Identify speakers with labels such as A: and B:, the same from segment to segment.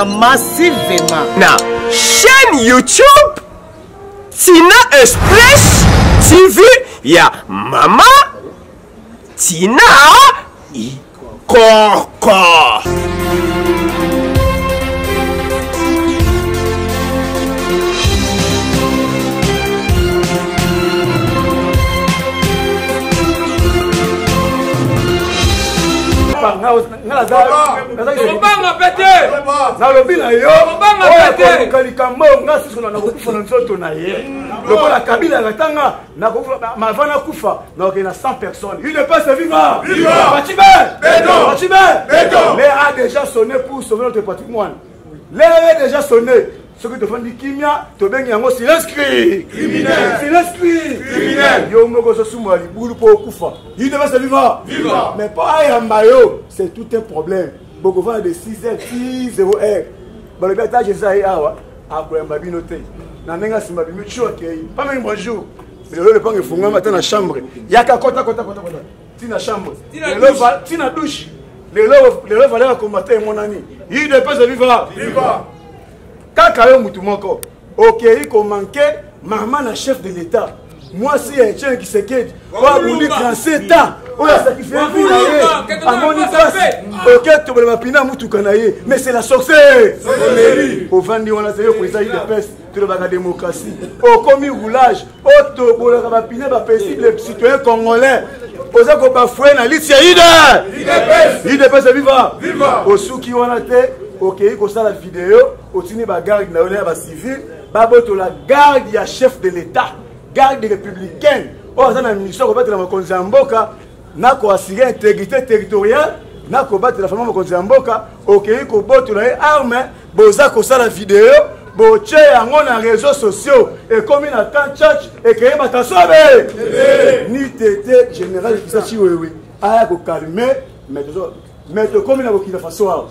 A: massivement na
B: chaîne YouTube Tina Express TV ya mama Tina Ikoko. Papa,
C: tobanga mpe te nalobi na
D: yo oyakoyoka
C: likambo oyo nga susu
D: na nakokufa na nzoto na ye lokola kabila akatanga mava nakufa naoke na 100 personnes une pese viva bacibe bacibe l'heure a déjà sonné pour sauver notre patrimoine l'heure est déjà sonné soki tofandi kimia tobengi yango silence cri criminel silence cri criminel yo moko ozosumola libulu mpo okufa il devait se vivre vivre mais mpo ayamba yo c'est tout un problème bokovanda de 6 heures ti 0 heure balobi ata jeza ye awa akoyamba bino te na ndenge asima bimi tio akei pameni bonjour lelo lopango efungama ata na chambre yaka kota kota kota kota tina chambre tina douche lelo lelo valeur ya kombata emonani udps viva viva kaka yo mutu moko okei komanke mama na chef de l'état mwasi ya etienne kisekedi oyo abundi 37 ans oyo asakrifie vi na ye amoni pasi oke tobola mapina ya motuka na ye mais c'est la sorcere ovandi wana zeyo koeza idps tolobaka démocratie okomi roulage poto bolaka bapine bapesible citoyen congolais oza kobafue na lisi ya ide idepese viva osuki wana te okei kosala video otini bagarde na yo na ya bacivile babotola garde ya chef de l'état garde républicaine oyo aza na mission ya kobatela mokonzi ya mboka na ko assurer integrité territoriale na kobatela fama mokonzi ya mboka okeyi kobotola ye arme boza kosala video botie yango na réseau sociaux ekomi na camp church ekeyi matasobe ni tete général ekisa chiwewe aya kokalme me tokomi na bokina faso awa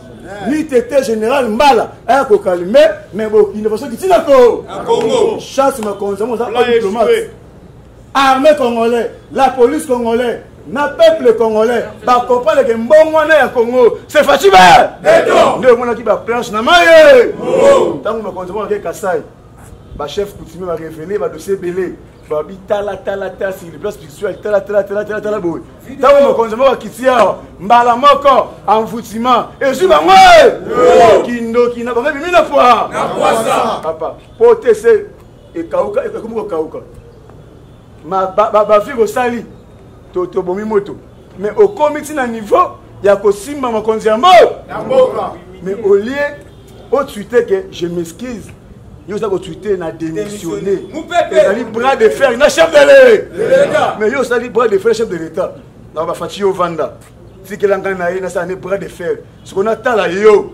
D: ni tete général mbala aya kokalme me bokina faso kitinako chasse makonzi yango oza diplomate armée congolais la police congolais na peuple congolais bakomprendre ke mbongo wana ya congo se faci be nde omonaki baplanche na maye ntango bakonzi monake kasai bachef coutumier barevele badossier ebele babi talatalatala sur place spirituel talatalatala boye ntango mokonzi moko akiti awa mbala moko envoutima ezwi bango kindoki na bango ebimi na pwa papa po te se ekauka ekomi kokauka bafik osali tobomi moto mais okomi ti na niveau ya kosimba mokonzi ya mboka mais au lieu otwite ke je m'excuse yo oza kotwite na démissionne ezali bras de fer na chef de l'etat mais yo osali bras de fer chef de l'état na bafaci yo vanda tikelanga na ye nasala ne bras de fer soko natala yo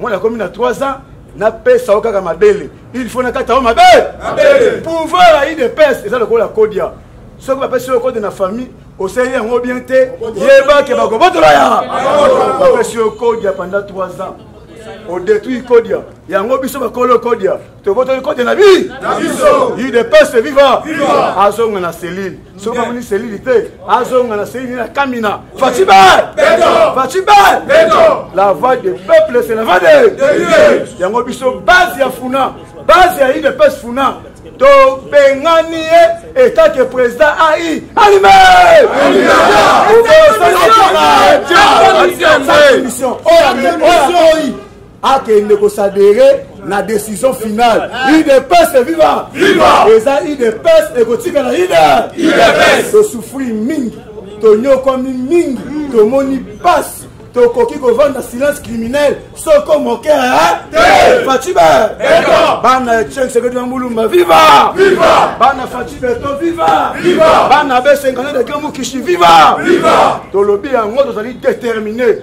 D: mwana akomi na 3 ans napesa yo kaka mabele il faut nakata yo mabele pouvoir ayi de pese eza lokola kodia soki bapesi yo kode na famille osali yango bien te yeba ke bakobotola ya bapesi yo kodia pendant 3 ans odetruit kodia yango biso bakolo kodia tobotoli kote na bi udps viva azonga na selile soki amoni selile te azonga na selile na kamina fatibe fatibe la voix de peuple c'est la voix de yango biso base ya funa base ya udps funa tobengani ye etat ke président ai alime akende kosadere na décision finale udps viva eza udps ekotikala udps tosufri mingi tonyokwami mingi tomoni pasi tokoki kovanda silence criminel soko moke faciba bana ya cheng sekedi na mulumba viva bana faci beto viva bana besenganede kemukishi viva tolobi yango tozali détermine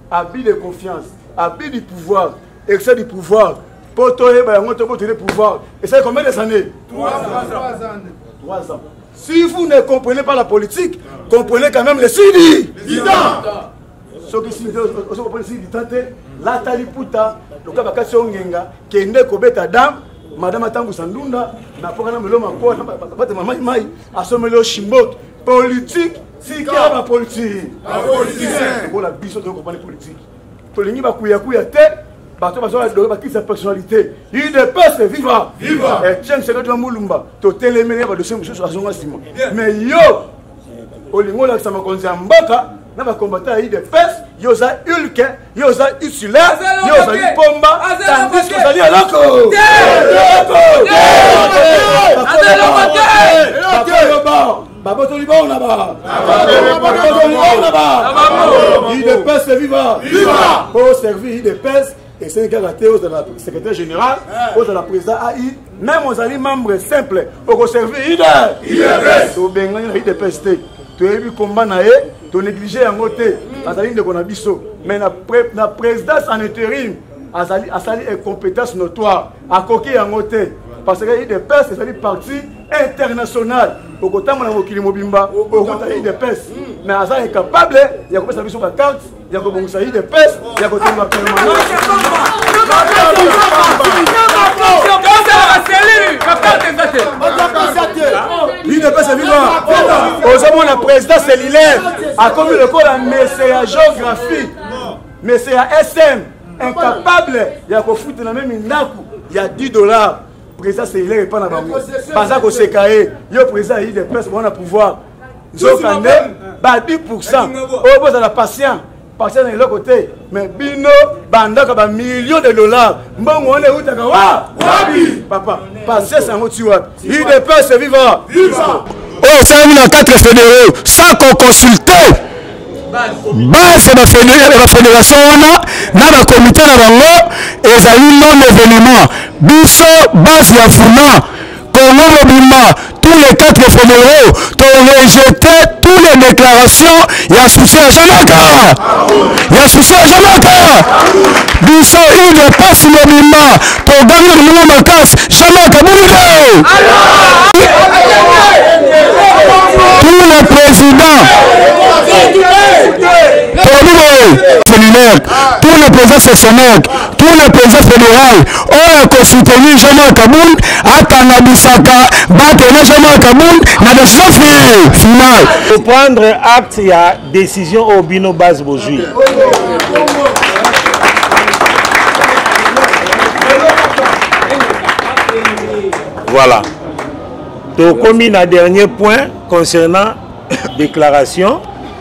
D: abus de confiance abus du pouvoir excès du pouvoir mpo toyeba yango tobotele pouvoir esali combien des années 3 ans si vous ne comprenez pas la politique comprenez quand même le sidi soki sidi ozo comprendre sidi temps te lata liputa loka bakasi yo ngenga kende kobeta dame madame atambusa ndunda na mpoka na melo makoa na batema mai mai asomeli yo shimboki politique tika bapolitiki lokola biso toyo kopani politiki tolingi bakuyakuya te bato bazwaka doke bakisa personnalité udps viva etienne sekedi wa mulumba totelemeli ya badosie mosusu azonga nsima mais yo olingi olakisa makonzi ya mboka na bakombata ya udps yo oza ulke ye oza usule ye ozali pomba tandis ozali eloko babotoli bango na babotoli bango na ba idps viva po servir idps esengeli kaka te ozala secrétaire général ozala président ai meme ozali membre simple okoservir udps tobengani na udps te toyebi komba na ye tonéglige yango te azali ndeko na biso mais na, pre, na présidence en intérim azali asali incompétence notoire akoki yango te parce que udps ezali parti international okotambola mokili mobimba okota udps mais aza incapable ya kopesa biso bakarte ya kobongisa idps ya kotonga idps viva ozomona président cellulaire akomi lokola mese ya géographie mese ya sm incapable ya kofutela meme ndako ya 10 dollars président cellulaire epa na bango baza koseka ye yo président ya idps bona pouvoir nzoka nde ba 10 pourcent oyo bozala patient patient na eloko te mais bino bandaka ba million de dollars mbongo wana eutaka wa wapi papa patience yango ti wapi udps viva oyo esalami na 4 fédéraux sans qu'on consulte base ya bafederation wana na bakomite na bango ezali non événement biso base ya funa Congo mobimba tous les quatre femeraux to rejete tous les déclarations ya souci ya jamaka ya souci ya jamaka biso ile pasi mobimba togangi na moninga makasi jamaka bolingo tous les présidents tolobi boye seminaire tous les présidents sectionnaires Tous les présidents fédéraux oyo akosoutenir Jean-Marc Kabund atanga bisaka bato na Jean-Marc Kabund na bosafi final. Reprendre
A: acte ya décision oyo bino base bozwi. Voilà. tokomi na dernier point concernant déclaration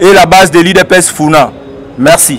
E: et la base de l'udps funa merci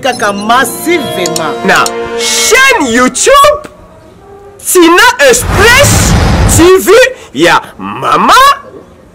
B: kaka massivement na chaîne youtube tina express tv ya mama